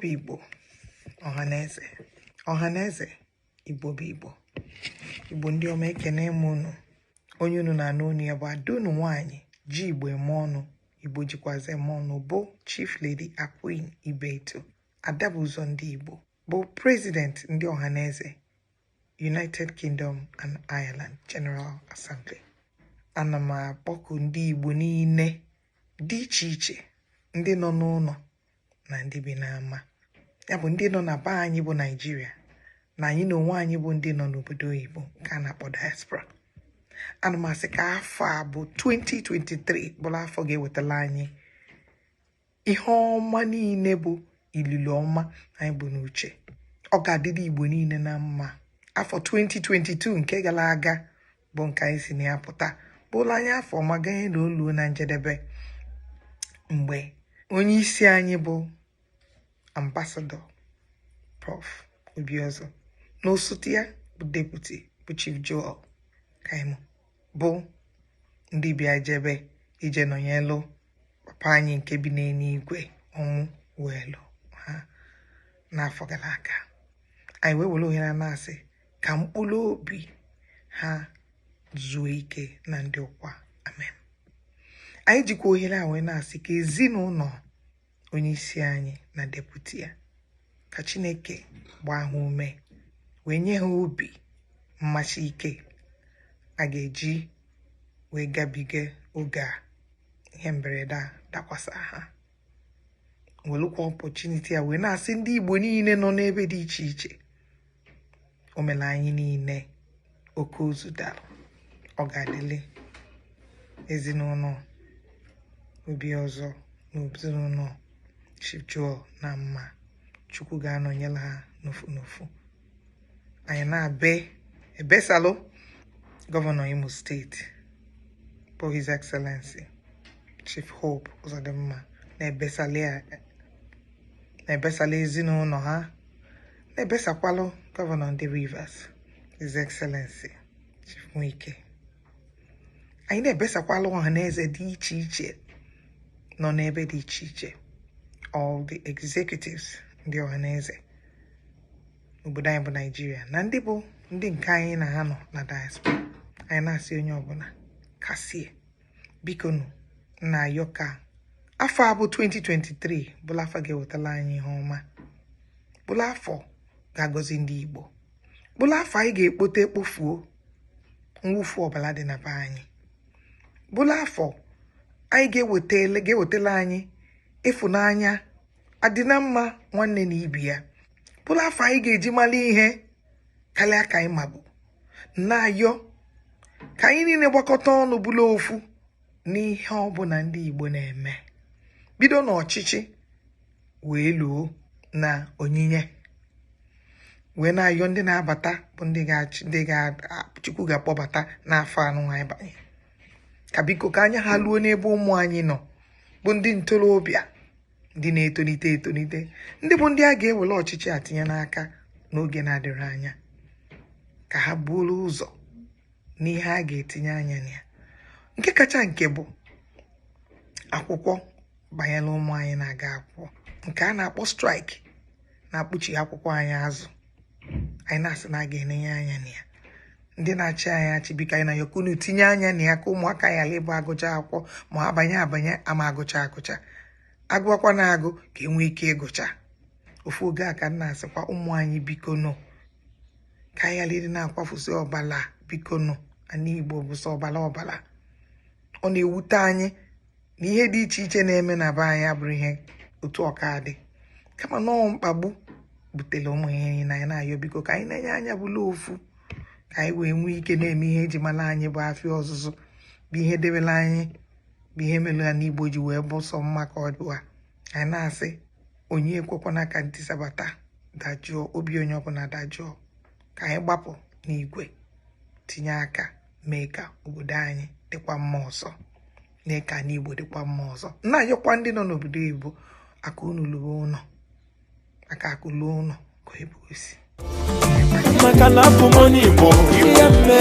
bụ igbo ọhaneze ọhaneze igbo bụ igbo igbo ndị ọma ekene m unu onye unu na-anụ onu ya bụ ada unu nwaanyị ji igbo eme ọnụ igbo jikwazi eme ọnụ bụ chief lady aqueen ibeto ada bu ụzọ ndị igbo bụ president ndị ọhaneze united kingdom and ireland general assembly ana m akpọku ndị igbo niile dị iche iche ndị nọ n'ụlọ na ndị bi n'ama ya bụ ndị nọ na be anyị bụ nigeria na anyị na onwe anyị bụ ndị nọ n'obodo oyibo nke a na-akpọ diaspora ana m asị ka afọ a bụ 2023 bụrụ afọ ga-ewetala anyị ihe ọma niile bụ ililo ọma anyị bu n'uche ọ ga-adịrị igbo niile na mma afọ 2022 nke gara aga bụ nke anyị si na ya pụta bụụrụ anyị afọ ọma ganye na o luo na njedebe mgbe onye isi anyị bụ ambassador prof obiozor na osote ya bụ deputy bụ chief joel kroham bụ ndị bịa jebe ije nọnyelụ papa anyị nke bi n'eluigwe ọnwụ welu ha n'afọ gara aga anyị wee were ohere na-asị ka mkpụrụ obi ha zuo ike na ndokwa amen anyị jikwa ohere a wee na-asị ka ezinụlọ onye isi anyị na deputy ya ka chineke gbaa ha ume wee nye ha obi mmachi ike ha ga-eji wee gabiga oge a ihe mberede a dakwasa ha welụkwa opportunity a wee na-asị ndị Igbo niile nọ n'ebe dị iche iche o mere anyị niile oke ozu dara ọ ga-adịlị ezinụlọ Obiozor na ezinụlọ Chief Joel na mma Chukwu ga-anọnyere ha n'ofu n'ofu anyị na-ebe ebesalụ governor Imo state bụ His Excellency Chief Hope Uzodimma na-ebesalụ ezinụlọ ha na-ebesakwalụ governor ndị Rivers His Excellency Chief Wike anyị na-ebesakwalụ Ọhaneze dị iche iche nọ n'ebe dị iche iche all the executives ndị Ọhaneze n'obodo anyị bụ nigeria na ndị bụ ndị nke anyị na ha nọ na diaspora anyị na-asị onye ọbụla kasie bikonụ na-ayọ ka afọ a bụ 2023 bụlụ afọ ga-ewetala anyị ihe ọma bụlụ afọ ga-agọzi ndị igbo bụlụ afọ anyị ga-ekpota kpofuo mwụfu ọbala dị na be anyị bụlụ afọ anyị ga-ewetala anyị ịfụnanya adị na mma nwanne na ibe ya bụrụ afọ anyị ga-eji mara ihe karịa ka anyị mabu na-ayọ ka anyị niile gbakọta ọnụ bụrụ ofu n'ihe ọbụla ndị Igbo na-eme bido n'ọchịchị wee luo na onyinye wee na-ayọ ndị na-abata bụ ndị ga-achị ndị Chukwu ga-akpọbata n'afọ nunwa anyị banye ka biko ka anya ha luo n'ebe ụmụ anyị nọ bụ ndị ntorobịa ndị na-etolite etolite ndị bụ ndị a ga-ewere ọchịchị a tinye n'aka n'oge na-adịrọ anya ka ha buru ụzọ n'ihe a ga-etinye anya na ya nke kacha nke bụ akwụkwọ banyere ụmụ anyị na-aga akwụkwọ nke a na-akpọ strike na-akpụchi akwụkwọ anyị azụ anyị na-asị na a ga-enenye anya na ya ndị na-achị anyị achị biko anyị na-ayọ ka unu tinye anya na ya ka ụmụaka ghara ịbụ agụcha akwụkwọ ma abanye abanye ama agụcha agụcha agụọkwa na-agụ ka enwee ike ịgụcha ofu oge a ka m na-asịkwa ụmụ anyị biko nụ ka anyị ghara ịdị na-akwafusi ọbala biko nụ ana Igbo bụ sọ ọbala ọbala ọ na-ewute anyị na ihe dị iche iche na-eme na be anyị abụrọ ihe otu ọ ka dị kama na ọ mkpagbu butere ụmụ ihe niile anyị na-ayọ biko ka anyị nenye anya bụrụ ofu ka anyị wee nwee ike na-eme ihe eji mara anyị bụ afịa ọzụzụ bụ ihe debere anyị bụ ihe mere ana Igbo ji wee bụ sọ mma ka ọ dịwa anyị na-asị onye ekwekwana ka ntisa bata dajụọ obi onye ọbụla dajụọ ka anyị gbapụ n'igwe tinye aka mee ka obodo anyị dịkwa mma ọzọ mee ka ana Igbo dịkwa mma ọzọ na-ayọkwa ndị nọ n'obodo oyibo aka unu luo ụlọ aka akụ luo ụlọ ka Igbo sị maka na abụ m onye Igbo ihe mme